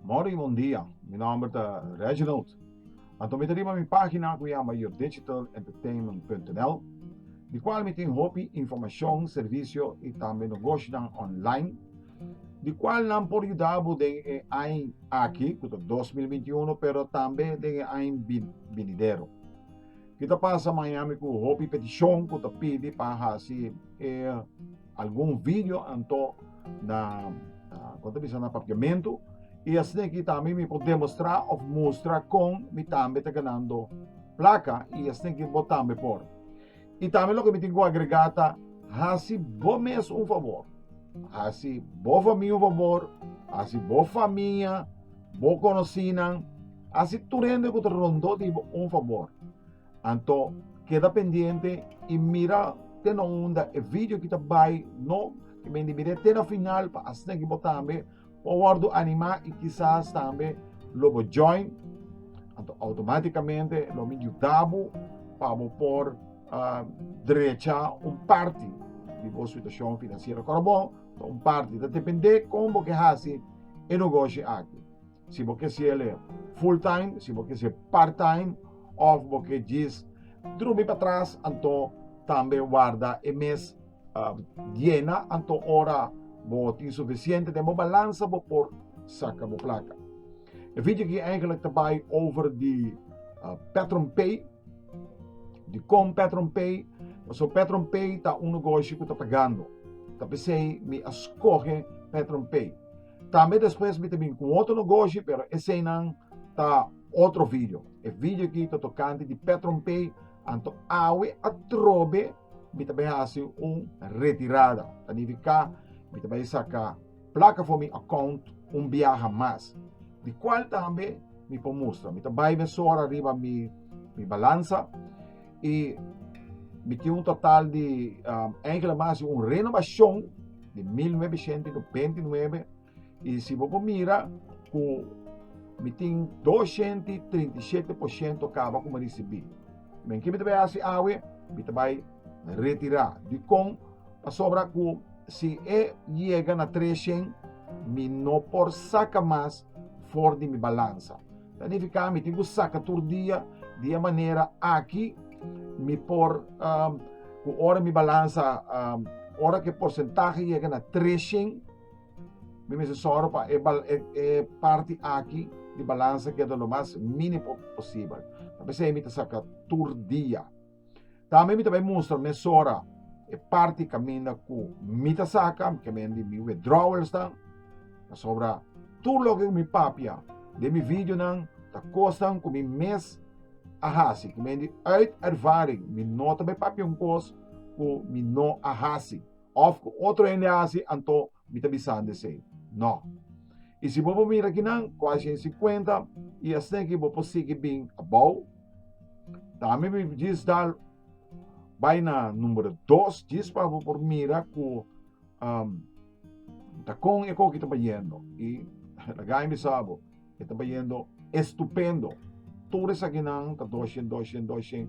Morning y bon dia. Mi nomber ta Reginald. Anto mi ta riba mi pagina cu yama yourdigitalentertainment.nl di cual mi tin hopi informacion, servicio y tambe nogoshinan online. di cual nan por yudabo den e aña aki, cu ta 2021, pero tambe den e aña binidero. Ki ta pasa Miami cu hopi peticion cu ta pidi pa hasi e algun video anto na, uh, con ta bisa, na papiamento, y asina ki tambe mi por demostra of mustra con mi tambe ta ganando placa y asina ki bo tambe por. I tambe loke mi tin ku agregá ta, hasi bo mes un fabor, hasi bo famia un fabor, hasi bo famia, bo konosinan, hasi tur hende ku ta rondó di bo un fabor. Anto keda pendiente i mira te na unda e video ki ta bai no, ke mende mira te na final pa asina ki bo tambe Bo wòrdu animá i kisas tambe lo bo join, anto outomátikamente lo mi yuda bo pa bo por drechá un parti di bo situashon finansiero korobon. Ta un parti, ta dependé kon bo ke hasi e negoshi akí. Si bo ke siele full time, si bo ke siel part time òf bo ke djis drumi patras, anto tambe warda e mes. Um, Diena, anto ora bo tin suficiente den bo balansa bo por saca bo placa. E video ki eigenlijk te bai over di uh, ah, Patron Pay, di con Patron Pay. So Patron Pay ta un negocio que ta pagando. Ta pesei mi a escoge Patron Pay. También después mi te bin con otro negocio, pero ese nan ta otro video. E video ki ta tocante di Patron Pay, anto awe atrobe Mi ta bai hasi un retirada. Ta nifiká mi ta bai saka plaka for mi akount un biaha mas. Di kual tambe mi por mustra. Mi ta bai mesora riba mi mi balansa i mi tin un total di, enkele mas si un renobashon di mil nuebe shente i nobente i nuebe. Y si bo por mira cu mi tin doshenti y trinta y shete por shento caba cu mi ricibi. Men ki mi ta bay haci awe? Mi ta bay retira. Dicon? Pasobra cu si e yega na treshen, mi no por saca mas for di mi balansa. Ta nifica mi tin cu saca tur dia, di e manera aki mi por cu ora mi balansa, ora cu e porcentahe yega na treshen, Mi mester sòru pa e, e, e parti aki di balansa keda lo mas mínimo posibel. Ta p'esei mi ta saka tur dia. Tambe mi ta bai mustra mesora e parti kaminda ku mi ta saka, ke men di mi withdrawals dan, pasobra tur loke ku mi papia den mi videonan ta kosnan ku mi mes a hasi, ku men di uit ervaring mi no ta bai papia un kos ku mi no a hasi. Òf ku otro hende a hasi, anto mi ta bisando esei? Nò. I si bo por mira kinan ku a hasi e si kuenta i esneki bo por sigui bin abou? Tambe mi djis dal bai na numero dos djis pa bo por mira ku um, ta kon e koki ta bayendo. I laga mi bisa bo, e ta bayendo estupendo. Tur esakinan ta doshen, doshen, doshen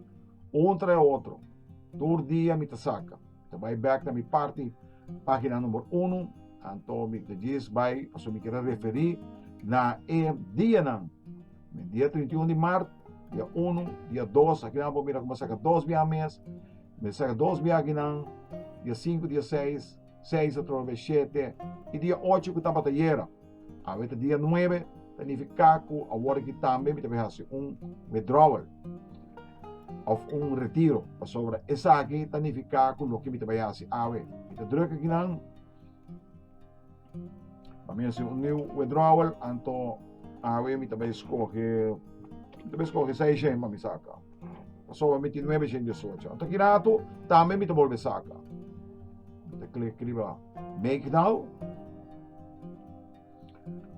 un tra e otro. Tur dia mi ta saka. Ta bai back na mi parti, pagina number uno, anto mi ta djis bai, paso mi kere referi na e dianan, den dia 31 di mart, dia uno, dia dos, aki nan bo mira ku bo saka dos biaha mes, mi saka dos biaha akinan, dia sinku, dia seis, seis atrobe shete, i dia ocho ku tabata yera. Awe ta dia nuebe, ta nifiká ku awor aki tambe mi ta bin hasi un withdrawal òf un retiro. Pasobra esaki ta nifiká ku loke mi ta bai hasi awe, mi ta druk aki nan pa mi hasi un niu withdrawal, anto awe mi ta bai skohe mi ta bai skohe seis shen pa mi saka. Pasobra mi tin nuebe shen disocho. Anto aki natu tambe mi ta bolbe saka. Mi ta klik riba. Make now.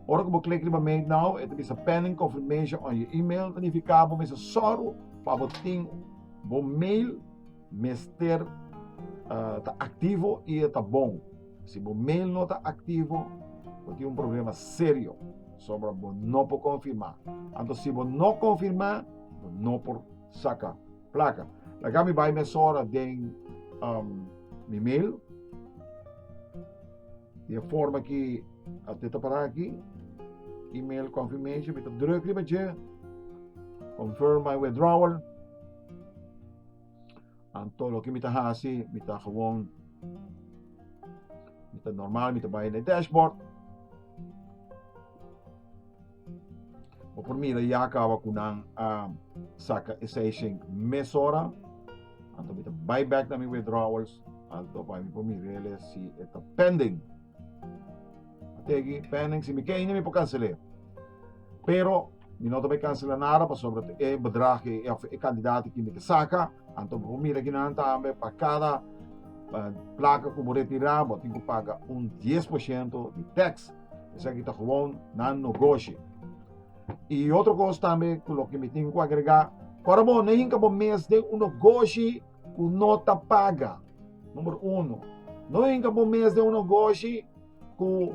Ora ku bo klik riba Make now, e ta bisa pending confirmation on your email. Ta nifiká bo mester sòru pa bo tin bo mail mester uh, ta aktivo i e ta bon. Si bo mail no ta aktivo, bo tin un problema serio. Sombra bo no por konfirmá. Anto si bo no konfirmá, bo no por saka Placa. Laga mi bai mesora den um, mi mail. De forma ki ate ta para aki. Email confirmation. Mi ta druk riba je. Confirm my withdrawal. Anto lo ki mi ta hasi, mi ta gewoon mi ta normal, mi ta bai na dashboard. Bo por mira ya kaba ku nan a saka e seis shen mesora. Anto mi ta bai bek na mi withdrawals. Anto pa mi por mirele si e ta pending. Tegi pending si mi ke ini mi por kansel'e. Pero mi no ta bai kansela nada pasobra ta e bedrag ei of e kantidat ei ku mi ta saka. Anto bo por mira kinan tambe pa kada plaka ku bo retira bo tin ku paga un dies por shento di teks. Esaki ta gewoon nan no goshi. I otro kos tambe ku loke mi tin ku agregá, ora bo na hinka bo mes den un nogoshi ku no ta paga, numero uno. No hinka bo mes den un nogoshi ku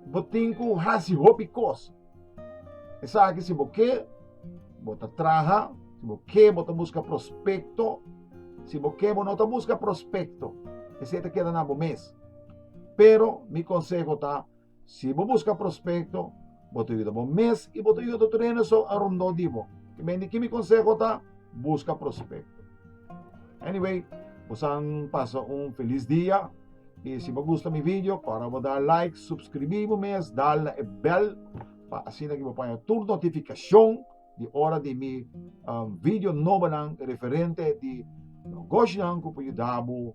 bo tin ku hasi hopi kos. Esaki si bo ke bo ta traha, si bo ke bo ta buska prospekto, si bo ke bo no ta buska prospekto, esei ta keda na bo mes. Pero mi konseho ta, si bo buska prospekto, bo ta yuda bo mes i bo ta yuda tur hende so arondó di bo. Te men di ki mi konseho ta, buska prospekto. Anyway, bosan pasa un felis dia i si bo gusta mi video kòrda ku bo da like, supskribí bo mes, dal na e bèl pa asina ke bo paña tur notifikashon di ora di mi video nobonan referente di negoshionan ku por yuda bo